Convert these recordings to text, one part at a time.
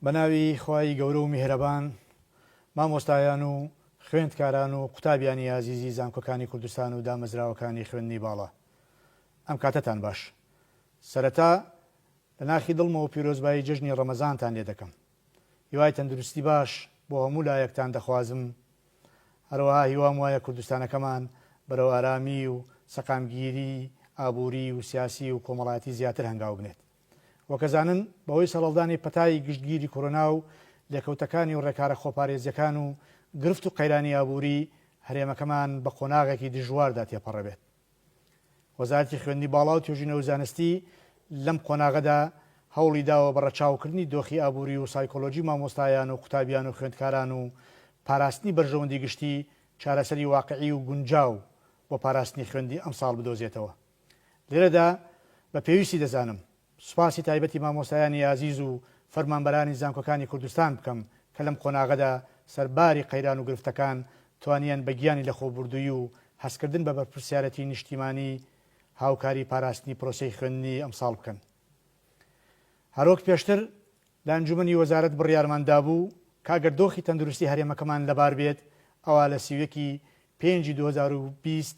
بەناوی خوای گەورە و میهرەبان مامۆستایان و خوێندکاران و قوتابیانی ئازیزی زانکۆکانی کوردستان و دامەزراوەکانی خوێندنی باڵا ئەم کاتەتان باش سەرەتا لە ناخی دڵمەوە پیرۆزبایی جەژنی ڕەمەزانتان لێ دەکەم هیوای تەندروستی باش بۆ هەموو لایەکتان دەخوازم هەروەها هیوام وایە کوردستانەکەمان بەرەو ئارامی و سەقامگیری ئابووری و سیاسی و کۆمەڵایەتی زیاتر هەنگاو بنێت. وەکەزانن بەهۆی سەڕەڵدانی پەتای گشتگیری کۆرۆنا و لێکەوتەکانی و ڕێکارە خۆپارێزیەکان و گرفت و قەیرانی ئابووری هەرێمەکەمان بە قۆناغێکی دژواردا تێپەڕێبێت وەزارەتی خوێندنی باڵا و توێژینە و زانستی لەم قۆناغەدا هەوڵی داوە بە ڕەچاوکردنی دۆخی ئابووری و سایکۆلۆژی مامۆستایان و قوتابیان و خوێندکاران و پاراستنی بەرژەوەندی گشتی چارەسەری واقعی و گونجاو بۆ پاراستنی خوێندی ئەمساڵ بدۆزێتەوە. لێرەدا بە پێویستی دەزانم سوپاسی تایبەتی مامۆستایانی ئازیز و فەرمانبەرانی زانکۆکانی کوردستان بکەم کە لەم قۆناغەدا سەرباری قەیران و گرفتەکان توانیان بە گیانی لەخۆبوردووی و هەستکردن بە بەرپرسیارەتی نیشتیمانی هاوکاری پاراستنی پرۆسەی خوێندنی ئەمساڵ بکەن. هەروەک پێشتر لە ئەنجومەنی وەزارەت بڕیارمان دابوو کە ئەگەر دۆخی تەندروستی هەرێمەکەمان لەبار بێت ئەوا لە سی و یەک ی پێنجی دوو هەزار و بیست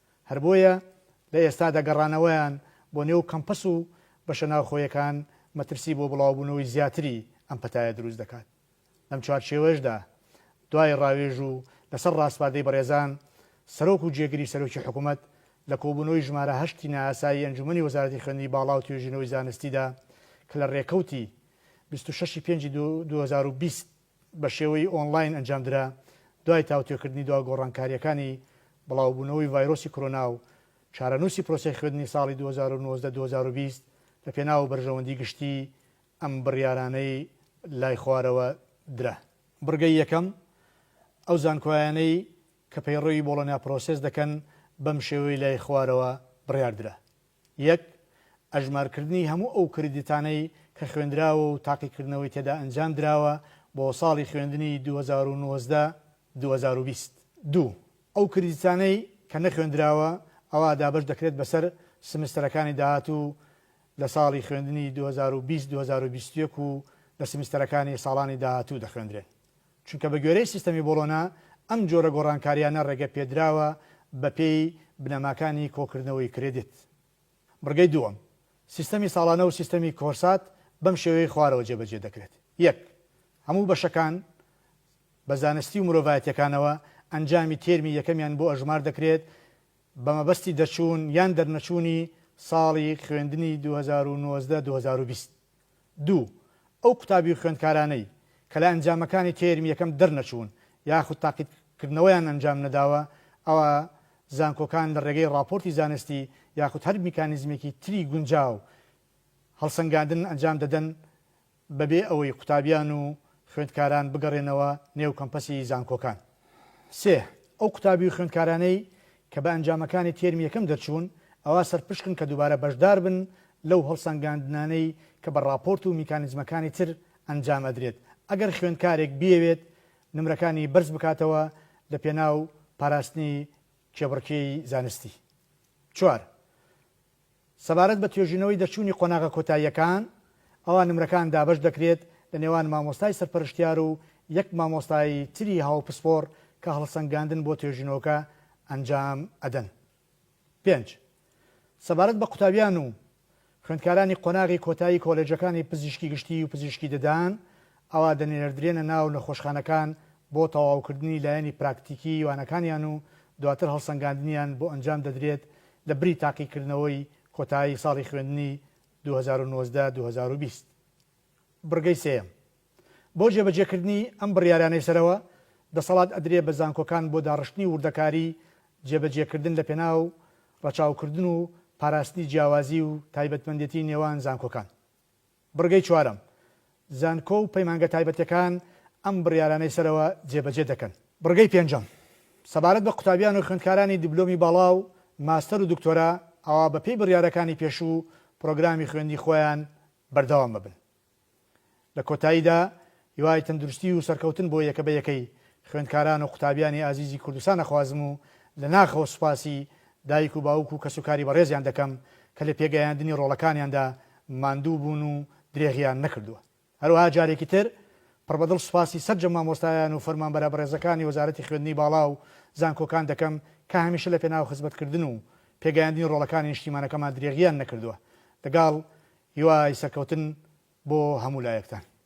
هەر بۆیە لە ئێستادا گەڕانەوەیان بۆ نێو کەمپەس و بەشە ناوخۆیەکان مەترسی بۆ بڵاوبوونەوەی زیاتری ئەم پەتایە دروست دەکات. لەم چوارچێوەشدا دوای ڕاوێژ و لەسەر ڕاسپاردەی بەڕێزان سەرۆک و جێگری سەرۆکی حکومەت لە کۆبوونەوەی ژمارە هەشتی نایاسایی ئەنجومەنی وەزارەتی خوێندنی باڵا و توێژینەوەی زانستیدا کە لە ڕێکەوتی بیست و شەش ی پێنجی دوو هەزار و بیست بە شێوەی ئۆنڵاین ئەنجامدرا، دوای تاوتوێکردنی دوا گۆڕانکارییەکانی بڵاوبوونەوەی ڤایرۆسی کۆرۆنا و چارەنووسی پرۆسەی خوێندنی ساڵی دوو هەزار و نۆزدە دوو هەزار و بیست لە پێناو بەرژەوەندی گشتی ئەم بڕیارانەی لای خوارەوە درا. بڕگەی یەکەم، ئەو زانکۆیانەی کە پەیڕەوی بۆڵۆنیا پرۆسێس دەکەن بەم شێوەی لای خوارەوە بڕیاردرا. یەک، ئەژمارکردنی هەموو ئەو کریدیتانەی کە خوێندراوە و تاقیکردنەوەی تێدا ئەنجام دراوە بۆ ساڵی خوێندنی دوو هەزار و نۆزدە دوو هەزار و بیست. دوو، ئەو کریدیتانەی کە نەخوێندراوە، ئەوا دابەش دەکرێت بەسەر سمستەرەکانی داهاتوو لە ساڵی خوێندنی دوو هەزار و بیست دوو هەزار و بیست و یەک و لە سمستەرەکانی ساڵانی داهاتوو دەخوێندرێن. چونکە بە گوێرەی سیستەمی بۆڵۆنا ئەم جۆرە گۆڕانکارییانە ڕێگە پێدراوە بە پێی بنەماکانی کۆکردنەوەی کرێدیت. بڕگەی دووەم، سیستەمی ساڵانە و سیستەمی کۆرسات بەم شێوەی خوارەوە جێبەجێ دەکرێت، یەک. هەموو بەشەکان بە زانستی و مرۆڤایەتییەکانەوە ئەنجامی تێرمی یەکەمیان بۆ ئەژمار دەکرێت بە مەبەستی دەرچوون یان دەرنەچوونی ساڵی خوێندنی دوو هەزار و نۆزدە دوو هەزار و بیست. دوو، ئەو قوتابی و خوێندکارانەی کە لە ئەنجامەکانی تێرمی یەکەم دەرنەچوون یاخود تاقیتکردنەوەیان ئەنجام نەداوە، ئەوا زانکۆکان لە ڕێگەی ڕاپۆرتی زانستی یاخود هەر میکانیزمێکی تری گونجاو هەڵسەنگاندن ئەنجام دەدەن بەبێ ئەوەی قوتابیان و خوێندکاران بگەڕێنەوە نێو کەمپەسی زانکۆکان. سێ، ئەو قوتابی و خوێندکارانەی کە بە ئەنجامەکانی تێرمی یەکەم دەرچوون، ئەوا سەرپشکن کە دووبارە بەشداربن لەو هەڵسەنگاندنانەی کە بە ڕاپۆرت و میکانیزمەکانی تر ئەنجام ئەدرێت. ئەگەر خوێندکارێک بیەوێت نمرەکانی بەرز بکاتەوە لە پێناو پاراستنی کێبڕکێی زانستی. چوار. سەبارەت بە توێژینەوەی دەرچوونی قۆناغە کۆتاییەکان، ئەوا نمرەکان دابەش دەکرێت لە نێوان مامۆستای سەرپەرشتیار و یەک مامۆستای تری هاوپسپۆڕ کە هەڵسەنگاندن بۆ توێژینەوەکە ئەنجام ئەدەن. پێنج. سەبارەت بە قوتابیان و خوێندکارانی قۆناغی کۆتایی کۆلێجەکانی پزیشکی گشتی و پزیشکی ددان، ئەوا دەنێردرێنە ناو نەخۆشخانەکان بۆ تەواوکردنی لایەنی پراکتیکیی وانەکانیان و دواتر هەڵسەنگاندنیان بۆ ئەنجام دەدرێت لە بری تاقیکردنەوەی کۆتایی ساڵی خوێندنی دوو هەزار و نۆزدە دوو هەزار و بیست. بڕگەی سێیەم، بۆ جێبەجێکردنی ئەم بڕیارانەی سەرەوە، دەسەڵات ئەدرێ بە زانکۆکان بۆ داڕشتنی وردەکاریی جێبەجێکردن لەپێناو ڕەچاوکردن و پاراستنی جیاوازیی و تایبەتمەندێتیی نێوان زانکۆکان. بڕگەی چوارەم، زانکۆ و پەیمانگە تایبەتیەکان ئەم بڕیارانەی سەرەوە جێبەجێ دەکەن. بڕگەی پێنجەم، سەبارەت بە قوتابیان و خوێندکارانی دیبلۆمی باڵا و ماستەر و دکتۆرا، ئەوا بە پێی بڕیارەکانی پێشوو و پڕۆگرامی خوێندنی خۆیان بەردەوام ئەبن. لە کۆتاییدا هیوای تەندروستی و سەرکەوتن بۆ یەکە بە یەکەی خوێندکاران و قوتابیانی ئازیزی کوردستان ئەخوازم و لە ناخەوە سوپاسی دایک و باوک و کەسوکاری بەڕێزیان دەکەم کە لە پێگەیاندنی ڕۆڵەکانیاندا ماندوو بوون و درێغیان نەکردووە. هەروەها جارێکی تر پڕ بە دڵ سوپاسی سەرجەم مامۆستایان و فەرمانبەرە بەڕێزەکانی وەزارەتی خوێندنی باڵا و زانکۆکان دەکەم کە هەمیشە لە پێناو خزمەتکردن و پێگەیاندنی ڕۆڵەکانی نیشتیمانەکەمان درێغیان نەکردووە. لەگەڵ هیوای سەرکەوتن بۆ هەموو لایەکتان.